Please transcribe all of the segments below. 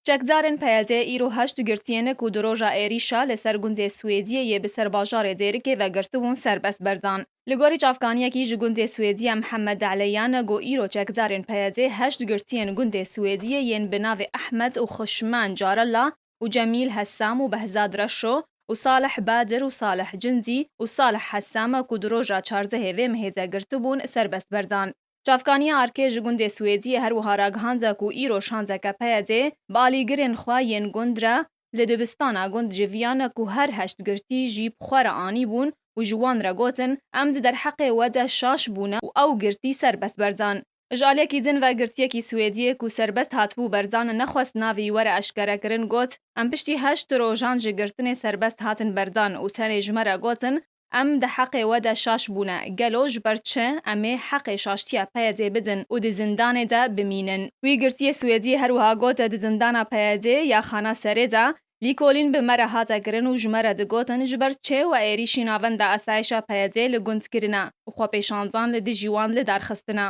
Çekdarên PYD îro heşt girtiyêne ku di roja êrîşa li ser gundê Swêdiyê yê bi ser bajarê Dêrikê ve girtibûn serbest berdan. Li gorî çavkaniyekî ji gundê Swêdiye Mihemed Deleyan got îro çekdarên PYD heşt girtiyên gundê Swêdiyê yên bi navê Ehmed û Xuşmen Carella û Cemîl Hesam û Behzad Reşo û Salih Badir û Salih Cindî û Salih Hesam ku di roja çardehê vê mehê de girtibûn serbest berdan. Çavkaniya Arkê ji gundê Swêdiyê her wiha ragihanda ku îro şandeke PYD'ê bi alîgirên xwe yên gund re li dibistana gund civiyane ku her heşt girtî jî bi xwe re anîbûn û ji wan re gotin em di derheqê we de şaş bûne û ew girtî serbest berdan. Ji aliyekî din ve girtiyekî Swêdiyê ku serbest hatibû berdan nexwest navê were eşkerekirin got, Em piştî heşt rojan ji girtinê serbest hatin berdan û tenê ji me re gotin Em di heqê we de şaş bûne. Gelo ji ber çi em ê heqê şaştiya PYD bidin û di zindanê de bimînin? Wî girtiyê Swêdî her wiha got, Di zindana PYD ya Xana Serê de lîkolîn bi me re hate kirin û ji me re digotin ji ber çi we êrîşî navenda asayişa PYD'ê li gund kirine û xwepêşandan li dijî wan lidarxistine.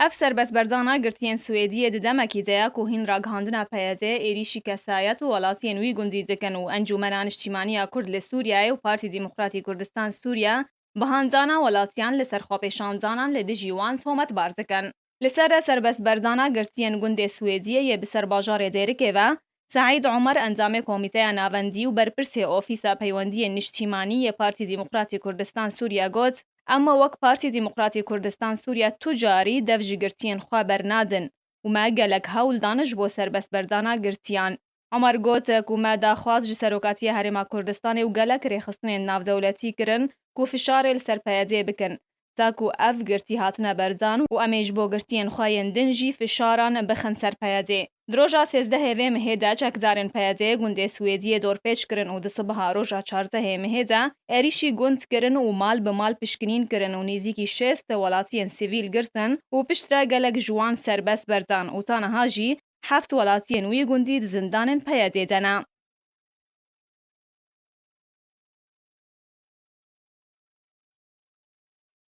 Ev serbestberdana girtiyên Swêdiyê di demekî de ye ku hîn ragihandina PYD'ê êrîşî kesayet û welatiyên wî gundî dikin û Encûmena Niştîmaniya Kurd li Sûriyeyê û Partî Demokratî Kurdistan Sûriye bi handana welatiyan li ser xwepêşandanan li dijî wan tometbar dikin. Li ser serbestberdana girtiyên gundê Swêdiyê yê bi ser bajarê Dêrikê ve, Seîd Omer endamê Komîteya Navendî û berpirsê Ofîsa Peywendiyên Nîştîmanî yê Partî Demokratî Kurdistan Sûriya got, Em me wek Partî Demokratî Kurdistan Sûriya tu carî dev ji girtiyên xwe bernadin û me gelek hewl dan ji bo serbestberdana girtiyan. Omer got, Ku me daxwaz ji Serokatiya Herêma Kurdistanê û gelek rêxistinên navdewletî kirin ku fişarê li ser PYD'ê bikin, Ta ku ev girtî hatine berdan û em ê ji bo girtiyên xwe yên din jî fişaran bixin ser PYD'ê. Di roja sêzdehê vê mehê de çekdarên PYD'ê gundê Swêdiyê dorpêç kirin û di sibeha roja çardehê mehê de êrîşî gund kirin û mal bi mal pişkinîn kirin û nêzîkî şêst welatiyên sivîl girtin û piştre gelek ji wan serbest berdan û ta niha jî heft welatiyên wî gundî di zindanên PYD'ê de ne.